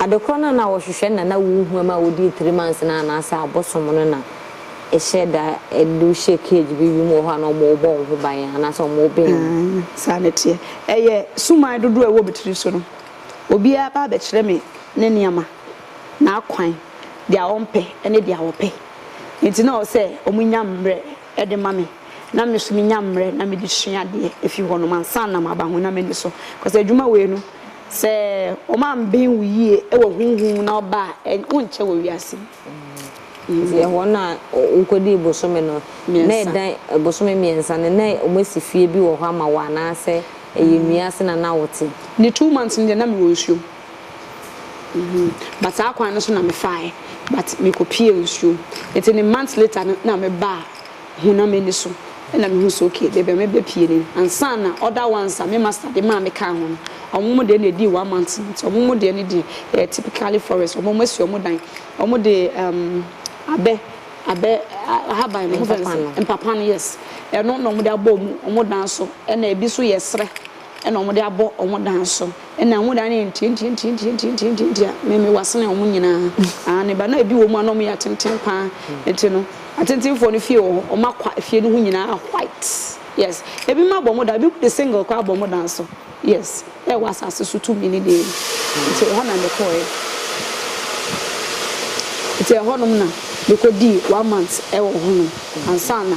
Ade korɔ no a na wɔhwehwɛ na na wohu ma wodii three months no anaasɛ abosom no na hyɛ da de wo hyɛ cage bi wim wɔ hɔ a na wɔn rebɔ wo ho ban anaasɛ wɔn rebɛn wo. Aane, saa na ɛteɛ. Ɛyɛ suman dodoɔ a ɛwɔ me tiri so no. Obiara ba abɛkyerɛ me ne nneɛma, n'akwan, deɛ ɔmpɛ ne deɛ ɔpɛ. Enti na ɔwɔ sɛ wɔnya mmerɛ de ma me na me nso menya mmerɛ na mede sua adeɛ ɛfiri hɔnom ansa na maba ho na m'ani so cause adwuma wei no sɛ wɔn amben wo yie wɔ honhom na ɔba a wonkyɛ wɔ wiase mu. Sɛ wɔn a wokɔdii bosome no na ɛda bosome mmiɛnsa no na wɔasi fie bi wɔ hɔ ama wo anaasɛ ɛyɛ nnua ase na na wote? Ne two months no deɛ na mewɔ nsuom. But saa kwan no so na me faaɛ but me kɔ piee nsuo mu nti ne months later no na me baa ho na m'ani so na me hu sɛ ok de bia me bɛ pie ni ansa na other ones a me master de maa me kaa ho no ɔmo mo deɛ na ɛdii one month nti ɔmo mo deɛ no deɛ ɛyɛ typically forest ɔmo ɔmo asi ɔmo dan ɔmo de um, abɛ abɛ ahaban no ɔmo fɛn sɛ mpapa no yes ɛno na ɔmo de abɔ ɔmo ɔmo dan so ɛna ebi so yɛ serɛ. Ɛna wɔn de abɔ wɔn dan so. Ɛna wɔn dan no yɛ ntiantiantiantiantiantiantia. Me me wa sene wɔn nyinaa. Aane ba na ebi wɔ mu a na wɔn yɛ atenten paa. Nti no atentenfoɔ no fie wɔ hɔ. Wɔn akwa efie no ho nyinaa white. Yes. Ebi mo abɔ mo dan. Ebi mo de single koraa abɔ mo dan so. Yes. Ɛwɔ asase so tumi ne deɛ no. Nti ɛhɔ na me kɔɔɛ. Nti ɛhɔ nom na me kɔ dii one month ɛwɔ hɔ nom. Ansa na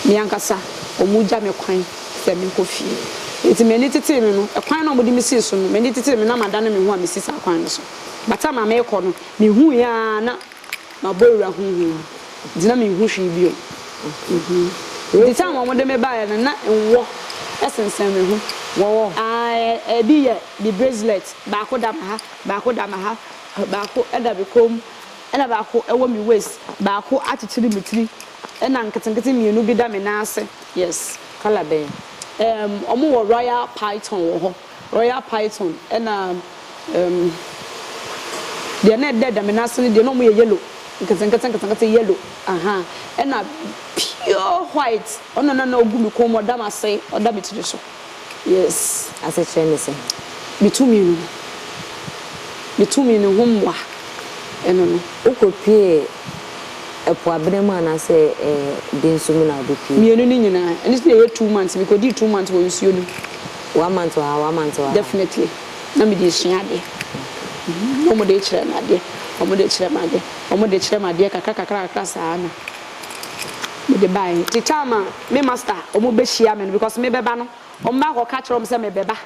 me ankasa wɔn gya me kwan. sɛ menkɔ fie. Enti m'ani tetee me no, kwan no a wɔde me sii so no, m'ani tetee me na madane me ho a mesi saa kwan no so. By time a merekɔ no, mihui ara na mabɔ awura honhom mu, enti na minhu hwee bio. Enti time a wɔde me baeɛ no, na nwɔ sensɛn me ho. Wɔwɔ? Aah, ebi yɛ me bracelet, baako da me ha, baako da me ha, baako da me kɔn mu, ɛna baako wɔ me waist, baako akyekyere me tiri, Ɛna nketenkete mmienu bi da me nan ase. Yes, colour bɛn? Ɛɛm, wɔn wɔ royal python wɔ hɔ. Royal python ɛna ɛɛm, deɛ na ɛda da me nan ase no deɛ na wɔn yɛ yellow, nketenkete nketenkete yellow, ahaa, ɛna pure white, ɔno na na ɔgu me kɔn mu, ɔda m'ase, ɔda me tiri so. Yes. Asekyerɛ ne sɛn? Me tumi no, me tumi no ho mmoa ɛno no. Wokɔpue ɛpo abena mu anaasɛ ɛde nso mu na wode pue? Mmienu no nyinaa. Ɛno nso na ɛyɛ two months. Mekɔdii two months wɔ nsuo no mu. One month wɔ ha, one month wɔ ha. Definitely. Na mede resua adeɛ. Na wɔde rekyerɛ me adeɛ, wɔde rekyerɛ me adeɛ, wɔde rekyerɛ me adeɛ kakra kakra kakra saa na. Mede bae ntsi time a me master wɔn behyia me no because mebɛba no wɔn baa kɔ ka kyerɛ wɔn sɛ mebɛba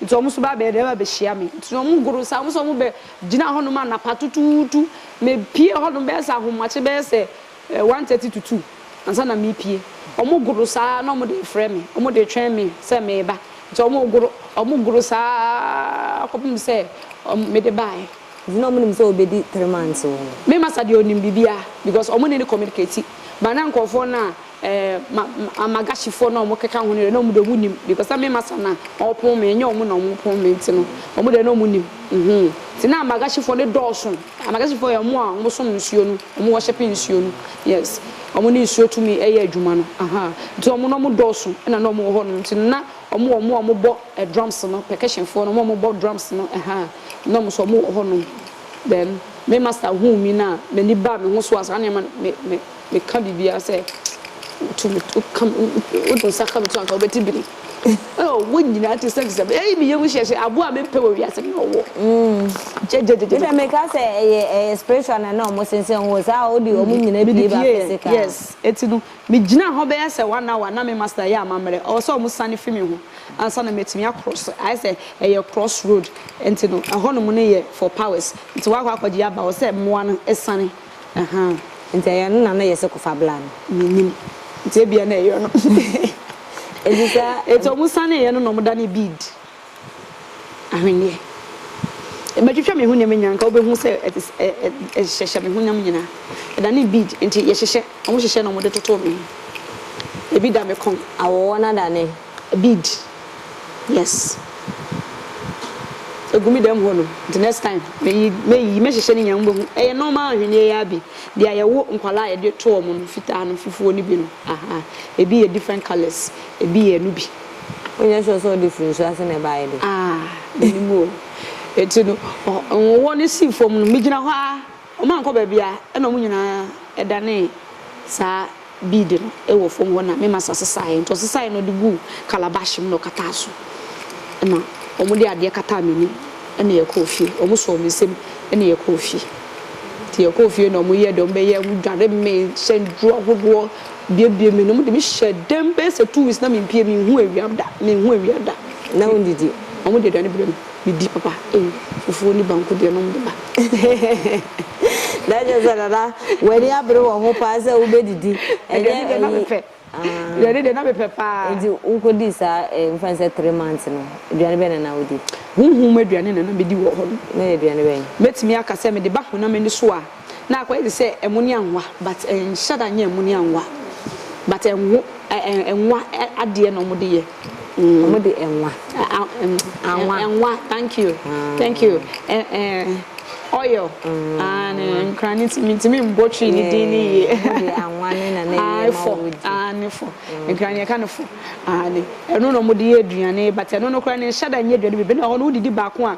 ntsi wɔn so baa bɛyɛ dɛn ba behyia me ntsi na wɔn goro sa wɔn so wɔn bɛ gyina hɔ nom anapa tutuutu me pue hɔ nom bɛyɛ sɛ ahomakye bɛyɛ sɛ one thirty to two ansa na me pue wɔn goro sa ara na wɔn de refrɛ me wɔn de retwɛn me sɛ meba ntsi wɔn goro wɔn goro sa ara kɔpem sɛ mede bae. Nti na ɔmo nim sɛ obedi three months oo. Me masa deɛ ɔnim biribiara because ɔmo ne no communicate but na nkorɔfoɔ no a ɛɛ Amagahyifoɔ no a ɔmo keka ho no deɛ na ɔmo deɛ ɔmo nim because na me masa na ɔpon me ɛnyɛ ɔmo na ɔmo pon me nti no ɔmo deɛ na ɔmo nim uhmm nti na Amagahyifoɔ no dɔɔso Amagahyifoɔ yɛ ɔmo a ɔmo som nsuo no ɔmo worship nsuo no yes ɔmo ne nsuo tumi ɛyɛ adwuma no ahaa nti ɔmo na ɔmo dɔɔso ɛna na ɔmo wɔ hɔ nom nti no na Wɔn a wɔbɔ drums no, percussion foɔ no, wɔn a wɔbɔ drums no ɛhaa, na wɔn nso wɔwɔ hɔ nom. Then me master huu me no a, n'ani baa me ho so a, saa na ɛma me, me, me ka biribiara sɛ, Wotu me, wo ka me, wo de nsa ka me to anka wobɛte biri. Oh, wɔn nyinaa te sɛ sɛ, ei, me yam hyehye, aboa a mempɛ wɔ wiase no na ɔwɔ. Gyegye-gyegye. Me deɛ me ka sɛ ɛyɛ, ɛyɛ spiritual na na wɔn sensɛn wɔn, saa a, wode wɔn nyinaa pie ba physical. Mede pieeɛ, yes. Enti no, Migyinaa hɔ bɛyɛ sɛ one hour, na me master yɛ amammerɛ. Ɔwɔ sɛ wɔsan fi me ho ansa na matumi across. Ayɛ sɛ ɛyɛ cross road nti no, ɛhɔnom no yɛ for powers. Nti woakɔ akɔgye aba, ɛwɔ sɛ mmoa no siane. Ahaa. Nti ɛyɛ ɛno na na ɛyɛ sɛ kɔfa bla no? Mennim. Nti ebia na ɛyɛ ɔno. Enti saa. Nti wɔsaneeɛ no na wɔdanee bead. ahwenneɛ. Mɛtwitwa me honam nyinaa, anka wobɛhu sɛ ɛhyehyɛ me honam nyinaa. Ɛdane bead nti yɛhyehyɛ, wɔhyehyɛ na wɔde toto me ho. Ebi da me kɔn. Awoɔ no adane bead, yes. Ɛgu me dam hɔnom, nti next time mɛyi, mɛyi, mɛhyehyɛ ne nyinaa, mobɛhu. Ɛyɛ normal ahwenneɛ yi ara bi, deɛ yɛwo nkwadaa a yɛde to wɔn no, fitaa no, fufuo no bi no, ahaa. Ebi yɛ different colours, ebi yɛ no bi. Wonyɛ sure sɛ ɔde firi nsu ase na ɛbaeɛ de? Ah, menim o. Enti no, nwowɔ no sii fam no, megyina hɔ ara, wɔankɔ baabiara, ɛnna wɔn nyinaa danee saa bead no wɔ fam hɔ, na me masa sesaeɛ. Enti ɔsesaeɛ no, ɔde guu calabash mu na ɔkataa so. Ɛnna wɔde adeɛ kataa m'anim, ɛnna yɛkɔɔ fie. Wɔsɔɔ me nsam, ɛnna yɛkɔɔ fie. Enti yɛkɔɔ fie na wɔyɛɛ deɛ wɔbɛyɛ, wɔdware me, hyɛn duru ahodoɔ. Biebiee me no, wɔde me hyɛɛ dɛm bɛyɛ sɛ two weeks na mempue, menhu awia da, menhu awia da. Na wondidi? Wɔde aduane brɛ me, medi papa. Ei, fufuo ne banku deɛ nom de ba. Na kyerɛ sɛ Nana, w'ani abere wɔ ho paa sɛ wobɛdidi, ɛnyɛ ayi. Aduane deɛ na mepɛ, aduane deɛ na mepɛ paa. Nti wokɔdii saa mfa no sɛ three months no, aduane bɛn na na wodi? Honhom mu aduane na na medi wɔ hɔ no. Na ɛyɛ aduane bɛn? Mɛtumi aka sɛ mede ba honam ani so a, Na akɔyɛ te sɛ ɛmuni anwa but ɛnhyɛ da nyɛ ɛmuni anwa but ɛnwo ɛnwa adeɛ na wɔn de yɛ. Wɔn de ɛnwa anwa ɛnwa thank you thank you ɛ ɛ oil aane nkran ne ti mi ti mi mbɔ twi ne din ne yie. Wɔn de anwa ne na ne yɛ ma wɔn di aane fo nkran yɛ ka ne fo aane ɛno na wɔn de yɛ aduane but ɛno no kora ne nhyɛ da nyɛ aduane bi bi na hɔ no wodidi baako a.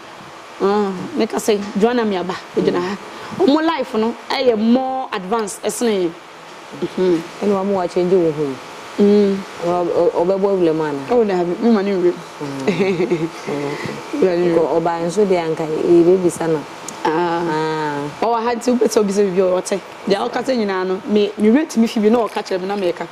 Ah me ka sɛ Joanna Miaba ogyina ha. Ɔmo life no yɛ more advanced ɛsene yɛn. Uhmm. Ɛna wama wa change wo home. Uhmm. Ɔbɛbɔ wura mu anaa? Oh daabi, me ma no wura mu. Ɔbaeɛ nso deɛ anka yɛbɛbisa no. Ɔwɔ ha nti wopɛ sɛ wobisa biribi a ɔte. Deɛ ɔkasa nyinaa no me wura tumi fi bi na ɔka kyerɛ me na meka.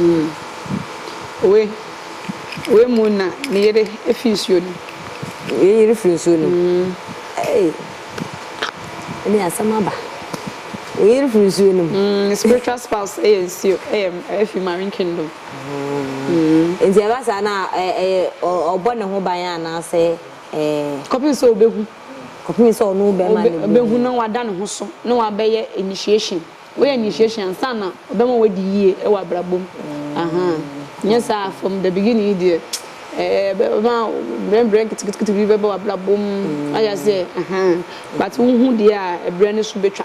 Mm, oe, oe mu na me yere fi nsuo no mu. Oe yere firi nsuo no mu. Mm. Hey, ɛne asɛm aba. Oe yere firi nsuo no mu. Mm, spiritual spouse ɛyɛ nsuo, ɛyɛ ɛfi marine kingdom. Mm. Nti ɛba saa na ɛyɛ ɔbɔ ne ho ban anaasɛ ɛɛ. Kɔpem sɛ ɔbɛhu. Kɔpem sɛ ɔne wo bɛɛma no bɛhu. Ɔbɛhu na wada ne ho so na wabɛyɛ initiation. Woyɛ initiation ansa na ɔbɛma wadi yie wɔ abrabɔ mu. Ahaa. Nyɛ saa from the beginning yi deɛ ɛɛ ɔbɛma brɛ brɛ nketeketekete bi bɛba w'abrabɔ mu. Wate aseɛ? Ahaa. But wohu deɛ a ɛbrɛ no so bɛtwa.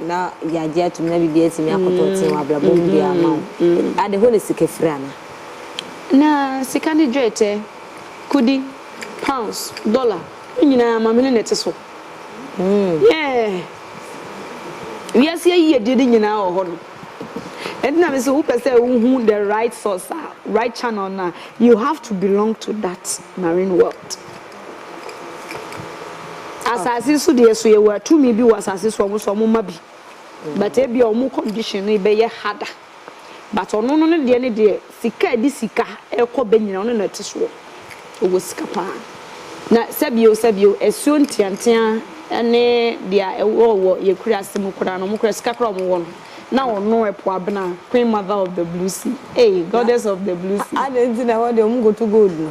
Na yɛagye atom na biribiara atumi akɔtɔ tee wɔ abrabɔ mu de ama wo. Ade, hɔ na sika firi anaa? Na sika ne dwetɛ, kudi, pounds, dollar, ne nyinaa amamene na ɛte so. Yeah. Wiase ayiyedie no nyinaa wɔ hɔ nom. Ɛnti na mese wopɛ sɛ wohu the right source a, right channel no a, you have to belong to that marine world. Asase so deɛ so yɛwɔ tumi bi wɔ asase so ɔmo so ɔmo ma bi but ebia ɔmo condition no bɛyɛ harder but ɔno no ne deɛ ne deɛ sika ɛde sika ɛkɔ bɛ nyina ɔno na ɛte soɔ ɔwɔ sika paa na sɛbio sɛbio asuo nteantea ɛne deɛ ɛwɔ wɔ yɛ kuraase mu koraa no ɔmo koraa sika koraa ɔmo wɔ no na ɔno ɛpo abena queen mother of the blue sea eii goddess of the blue sea. Adɛn nti na ɛhɔ deɛ ɔmo nkoto gold no.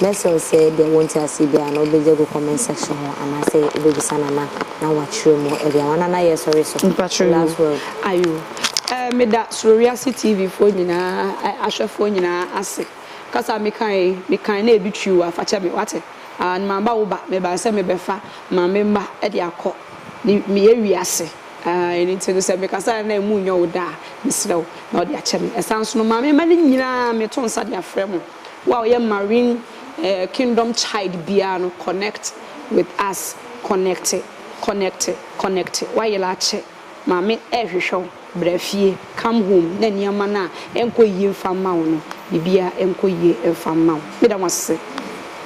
Mɛserew sɛ ebia wɔ ntseasee bi a na obedzi egu comment section hɔ anaasɛ ebebisa Nana na ɔakyerɛ mu ebia hɔn anan yɛ sɔre so. Mpakyɛw yoo Last word. Ayo ɛɛ meda Soro Wiase TV foɔ nyinaa ɛ ahwɛfoɔ nyinaa ase. Kasa a meka yi mekan na ebi twiw a fakyɛ me wate. And maba wo ba mebaa sɛ mebɛfa Maame mma de akɔ ne meyɛ wiase ɛɛ ɛno nti no sɛ mekasa a na emu nyɛ wo dɛ a mesrɛ wo na wode akyɛ me. Ɛsan so no Maame mma no nyinaa meto nsa de afrɛ mo. Wo a ɔyɛ marine kingdom child biara no connect with us connecte connecte connecte wayera akyɛ maame ɛrehwehwɛ wo bra fie come home na nneɛma no a ɛnkɔ yie mfa mma wo no biribiara nkɔ yie mfa mma wo meda mo ase.